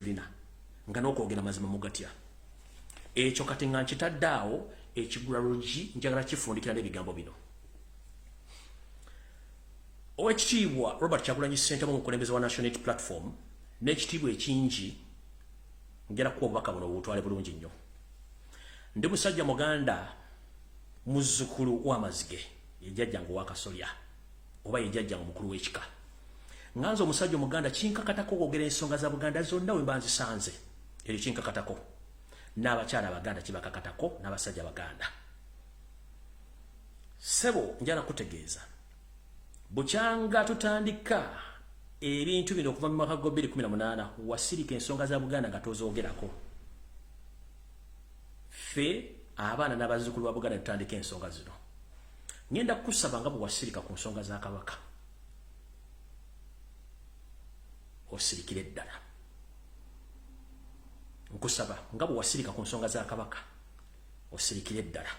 bina nga nokwogera mazima mugatya ekyo kati nga nkitadde awo ekigula lugi njagala kifundikira n'ebigambo bino owekitiibwa robert kyagulanyi ssentamu omukulembeze wa national aid platform n'ekitiibwa ekingi njala kuwa obubaka buno bubutwale bulungi nnyo ndi musajja muganda muzzukulu w'amazige yejjajjange owakasolya oba ye jajja omukulu w'ekika nga nze omusajja omuganda kinkakatako okwogera ensonga za buganda zonna we mba nzisanze ekyo kinkakatako n'abakyala abaganda kibakakatako n'abasajja abaganda sebo njala kutegeeza bukyanga tutandika ebintu bino okuva mu mwaka gwa 2018 wasirika ensonga za buganda nga tozoogerako ffe abaana n'abazzukulu ba buganda tutandika ensonga zino ngenda kukusaba nga bwewasirika ku nsonga za kabaka osirikire ddala nkusaba nga bwewasirika ku nsonga za kabaka osirikire ddala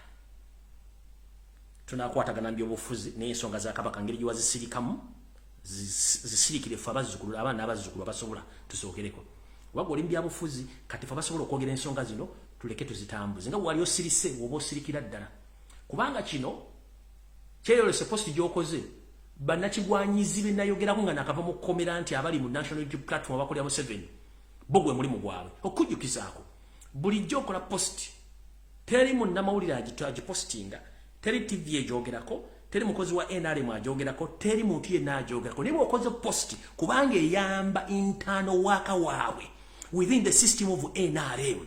tunakwatagana mbyobufuzi naye ensonga za kabaka ngeri gyewazisirikamu zisirikire fe abazzukulu abaana abazzukulu abasobola tusookereko oba gwe oli mubyabufuzi kati fe abasobola okwogera ensonga zino tuleke tuzitambuze nga wali osirise woba osirikira ddala kubanga kino kyeyolese post gyokoze banakigwanyizi benayogerako nga nakava mu kkomera nti abali mu national youtube platform abakolera museveni bo gwe mulimu gwabwe okujjukizaako bulijjo okola post teri munnamawulire agipostinga teri tv egyogerako teri mukozi wa nrm agyogerako teri muntu yenna agyogerako naye bwokoze post kubanga eyamba intano waka waabwe within the system of nrm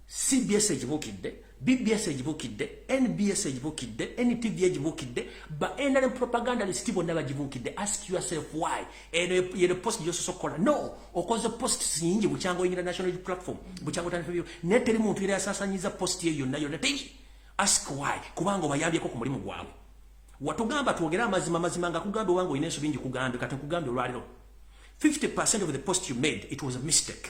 cbs egibukidde bbs egibukidde nbs egibukidde ntv egibukidde ba nrm propaganda lisiti bonna bagibukidde ask yourself why yene post gyososa okukola no okoze post nyingi bukyanga oyingira national platform bukyanga otandikabyo naye teri muntu yera yasasanyiza post eyo yonna yonna teri ask why kubanga obayambyeko ku mulimu gwabwe watugamba twogere amazima mazima nga kugamba owange olina ensobi nji kugambe kati nkugambye olwaliro 50 of the post you made it was a mistake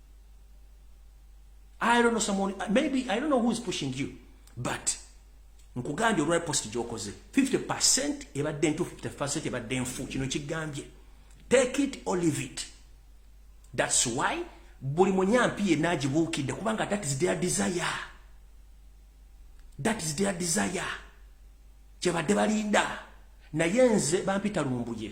I don't know someone, maybe I don't know who is pushing you, but nkugambye olwa post gyokoze 50 ebadde ntu 50 ebadde nfu kino kigambye take it or leave it thats why buli munyampi yenna agibuukidde kubanga that is their desire that is their desire kyebadde balinda naye nze bampita lumbuye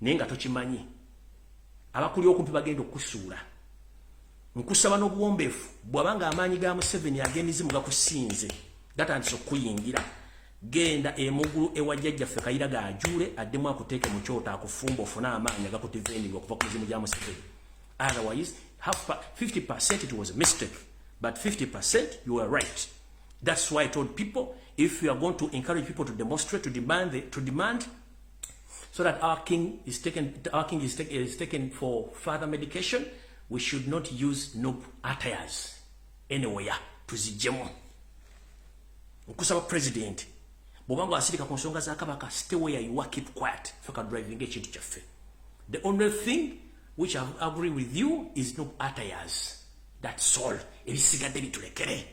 naye nga tokimanyi abakuli okumpi bagenda okukusuula nkusaba n'obuwombeefu bwabanga amaanyi ga museveni ag'emizimu gakusinze gatandise okukuyingira genda emugulu ewa jjajjaffe kayira gajuule addemu akuteeke mu kyoto akufumba ofune amaanyi agakutivenirwa okuva ku mizimu gya museveni otherwise 50 percent it was a mistake but 50 percent you are right that's why i told people if you are going to encourage people to demonstrate to demand, the, to demand so that our king is taken, our king is, take, is taken for further medication. We should not use noob attires anywhere to zijemu. Nkusaba president, bobanga asirika ku nsonga za kabaka, stay where you are, keep quiet. Faka driving ekintu kyaffe. The only thing which I agree with you is noob attires. That's all. Ebisigadde bitulekere.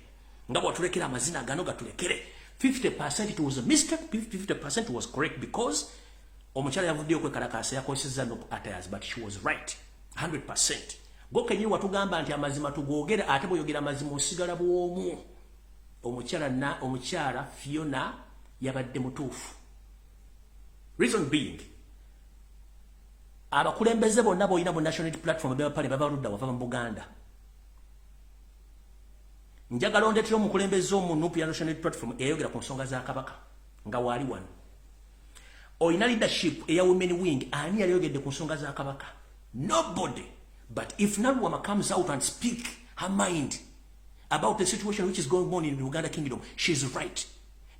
nga bwatulekera amazina gano gatulekere 50% it was a mistake 50% was correct because omukyala yavuddeyo kwekalakaasa yakozesezza no attires but she was right 100% gokenyini watugamba nti amazima tugogere ate bweyogera amazima osigala bwomu omukyala na omukyala fiona yabadde mutuufu reason being abakulembeze bonna boyina mu national platform bebapale babaludda wava mu buganda njagala ondetera omukulembeze omu nup ya national platform eyayogera ku nsonga za kabaka nga waali wano olina leadership eya women wing ani yali yogedde ku nsonga za kabaka nobody but if naluwama comes out and speak her mind about the situation which is going on in uganda kingdom she is right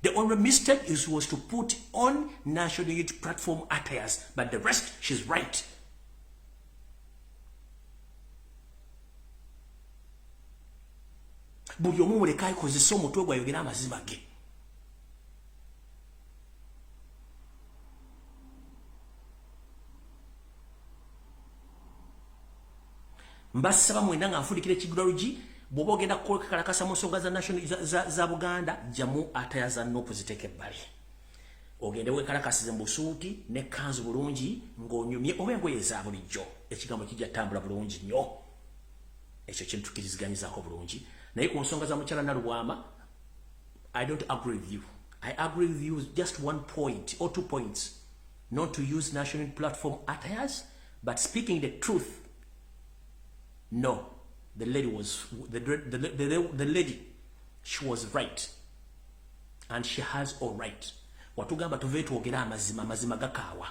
the only mistake is was to put on national youth platform attires but the rest she is right buli omu muleka akozesa omutwe gwe ayogera amazima ge mbasaba mwena nga nfundikira ekigulalogi bwoba ogenda kukalakasa mu nsonga za national za buganda jamu atayaza nokuziteeka ebbali ogende wekalakasize mubusuuti nekanzu bulungi ng'onyumye oba engoye za bulijjo ekigambo kijja tambula bulungi nnyo ekyo kintu kiriziganyizako bulungi naye ku nsonga za mukyala nalubwama i don't agree with you i agree with you just one point or two points not to use national platform attires but speaking the truth no the lady was the, the, the, the, the lady she was right and she has all right watugamba tuve twogera amazima amazima gakaawa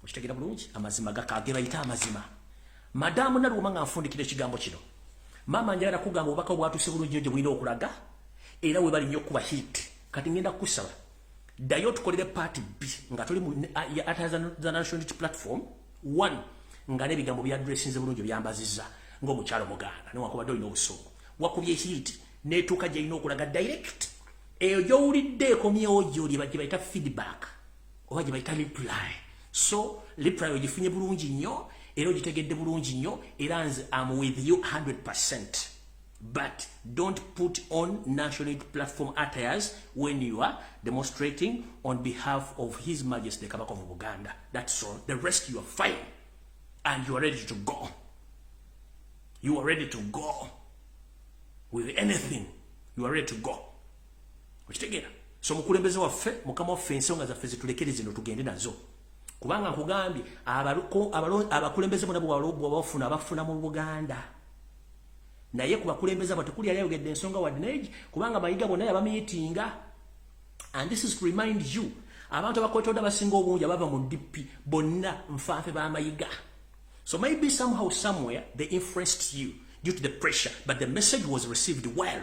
okitegera bulungi amazima gakage bayita amazima madamu naluuma nga nfundikira ekigambo kino maama njagala kugamba obubaka obwatuuse bulungi nyo gye bulina okulaga era webali nnyo okukuba hit kati ngenda kukusaba ddayo tukolere paati bbi nga tuli muathantionality platform one nga n'ebigambo byadressinze bulungi byambaziza ng'omukyalo muganda newakubadde olina obusungu wakubye hit netuuka gyerina okulaga direct eyo gyowulidde ekomyewo gyoli bagye bayita feedback oba gye bayita reply so reply ogifunye bulungi nnyo era ogitegedde bulungi nnyo era nze am with you 100 percent but don't put on national platform attires when you are demonstrating on behalf of his majesty kabaka of buganda that's all the rest you are fine and you are ready to go you are ready to go with anything you are ready to go okitegera so mukulembeze waffe mukama waffe ensonga zaffe zitulekere zino tugende nazo kubanga nkugambye abakulembeze bona bwewalobwa bafuna abafuna mu buganda naye ku bakulembeze abo tekuli yali ayogedde ensonga wadde naye kubanga mayiga bona yabamiyitinga and this is to remind you abantu abakwetodde abasinga obungi abava mu dp bonna nfanfe bamayiga so maybe somehow somewhere they influenced you due to the pressure but the message was received well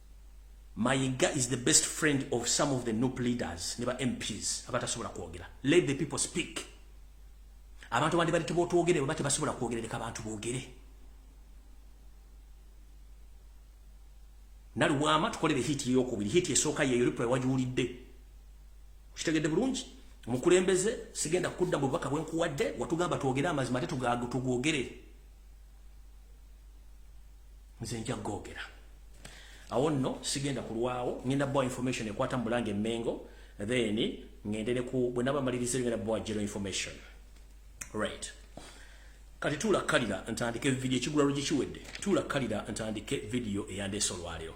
Mayiga is the best friend of some of the nup leaders ne ba MPs abatasobola kwogera. Let the people speak. Abantu bandi bali tubotwogere baba tebasobola kwogera leka abantu boogere. Nali wama tukolere hit yo kubiri hit esoka ye Europe wajuulidde. Kitegedde bulungi. Mukulembeze sigenda kudda bubaka bwenkuwadde watugamba twogere amazima ate tugagu tugogere. nze nja gogera awo nno sigenda kulwawo ngenda bawa information ekwata mubulange emengo then ngendere ku bwenaba maliriza ngenda bawa general information right kati tuula kalira ntandike video ekigula lugye kiwedde tuula kalira ntandike video eyandeesa olwaleero